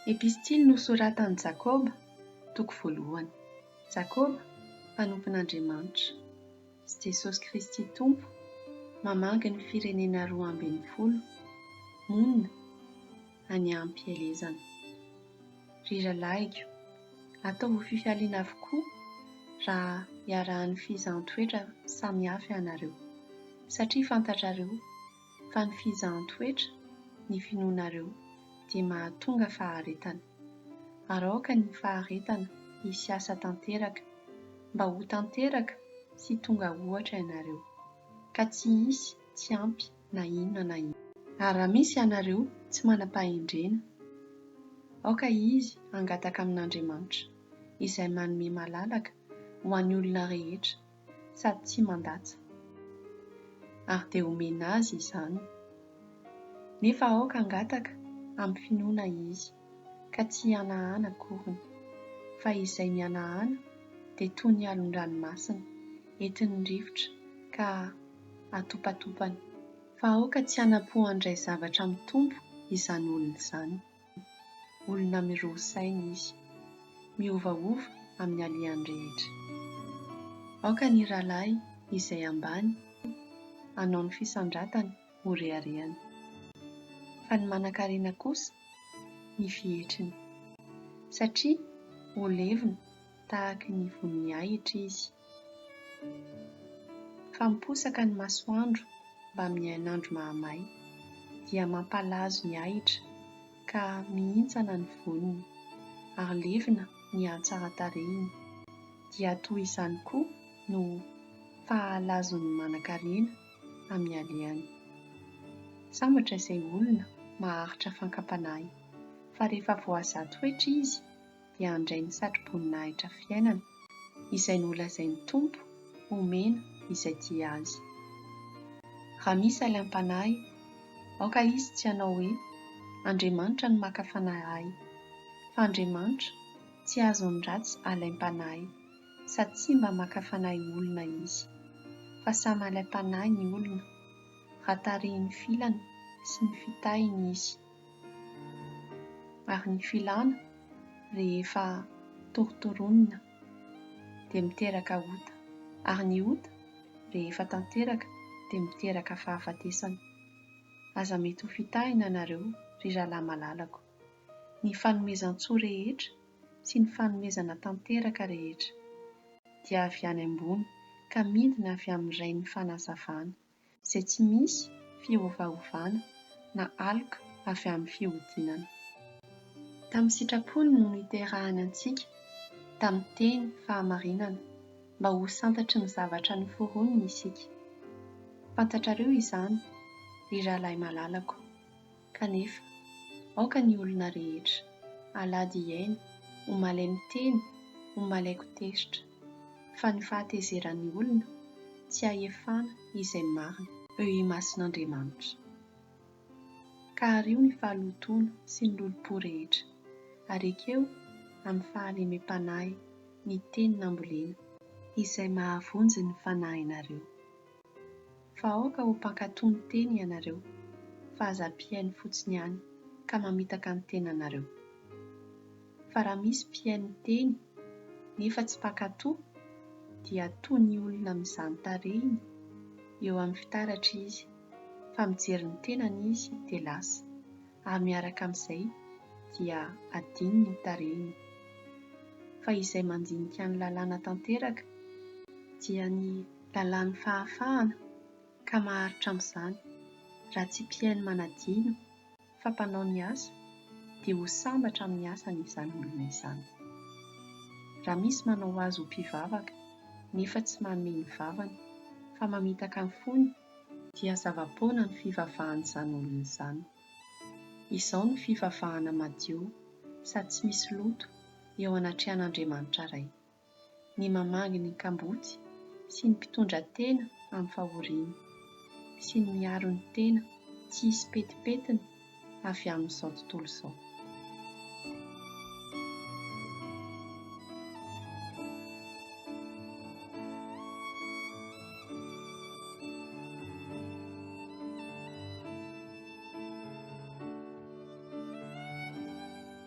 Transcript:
Epistily nosoratan'i Jakoba, toko voalohany. Jakoba, mpanompon'Andriamanitra, sy Jesosy Kristy Tompo, mamangy ny firenena roa ambin'ny folo, monina, any am-pielezana. Ry rahalahiko, ataovy fifaliana avokoa raha iarahan'ny fizahan-toetra samy hafa ianareo, satria fantatrareo fa ny fizahan-toetra ny finoanareo dia mahatonga faharetana, ary aoka ny faharetana hisy asa tanteraka, mba ho tanteraka sy tonga ohatra ianareo, ka tsy hisy tsy ampy. na inona na inona. Ary raha misy ianareo tsy manam-pahendrena, aoka izy hangataka amin'Andriamanitra, izay manome malalaka ho an'ny olona rehetra sady tsy mandatsa, ary dia homena azy izany. Nefa aoka hangataka amin'ny finoana izy. ka tsy hihanahana akoriny, fa izay mihanahana dia toy ny alon-dranomasina, entin'ny rivotra ka atopatopany. Fa aoka tsy hanapo handray zavatra amin'ny Tompo izany olona izany. Olona miroa saina izy. Miovaova amin'ny alehany rehetra. Aoka ny rahalahy izay ambany hanao ny fisandratany ho reharehany. Fa ny manankarena kosa ny fihetriny. Satria ho levona tahaky ny von'ny ahitra izy. Fa miposaka ny masoandro mbamin'ny hainandro mahamay, dia mampalazo ny ahitra ka mihintsana ny voniny, ary levona ny hatsaran-tarehiny, dia toy izany koa no fahalazon'ny manankarena amin'ny alehany. Sambatra izay olona maharitra fankam-panahy fa rehefa voahaza toetra izy dia handray ny satroboninahitra fiainana izay nolazain'ny Tompo homena izay tia Azy. Raha misy alaim-panahy, aoka izy tsy hanao hoe, Andriamanitra no maka fanahy ahy, fa Andriamanitra tsy azon'ny ratsy alaim-panahy sady tsy mba maka fanahy olona izy. Fa samy alaim-panahy ny olona, raha tarihin'ny filany sy ny fitahiny izy. Ary ny filana rehefa torotoronina dia miteraka ota, ary ny ota rehefa tanteraka dia miteraka fahafatesana. Aza mety ho fitahina nareo ry rahalahy malalako. Ny fanomezan-tsoa rehetra sy ny fanomezana tanteraka rehetra dia avy any ambony ka midina avy amin'ny Rain'ny fanazavana, izay tsy misy fiovaovana na aloka avy amin'ny fihodinana. Tamin'ny sitrapony no niterahany antsika tamin'ny teny fahamarinana mba ho santatry ny zavatra noforoniny isika. Fantatrareo izany, ry rahalahy malalako. Kanefa, aoka ny olona rehetra, alahady hihaino, ho malemy teny, ho malaiko tezitra. Fa ny fahatezeran'ny olona tsy hahefana izay marina. Eo imason'Andriamanitra. Ka ario ny fahalotoana sy ny lolompo rehetra, ary ekeo amin'ny fahalemem-panahy ny teny nambolena. Izay mahavonjy ny fanahinareo. Fa aoka ho mpankatò ny teny ianareo, fa aza mpihaino fotsiny ihany ka mamitaka ny tenanareo. Fa raha misy mpihaino ny teny, nefa tsy mpankatò, dia toa ny olona mizàny tarehiny eo amin'ny fitaratra izy, fa mijery ny tenany izy dia lasa, ary miaraka amin'izay dia adinony ny tarehiny. Fa izay mandinika ny lalàna tanteraka, dia ny Lalàn'ny fahafahana, ka maharitra amin'izany. Raha tsy mpihaino manadino, fa mpanao ny asa, dia ho sambatra amin'ny asany izany olona izany. Raha misy manao azy ho mpivavaka, nefa tsy manome ny vavany, fa mamitaka ny fony, dia zava-poana ny fivavahan'izany olona izany. Izao no fivavahana madio, sady tsy misy loto, eo anatrehan'Andriamanitra Ray. ny mamangy ny kamboty sy ny mpitondra tena amin'ny fahoriany, sy ny miaro ny tena tsy hisy petipetiny avy amin'izao tontolo izao.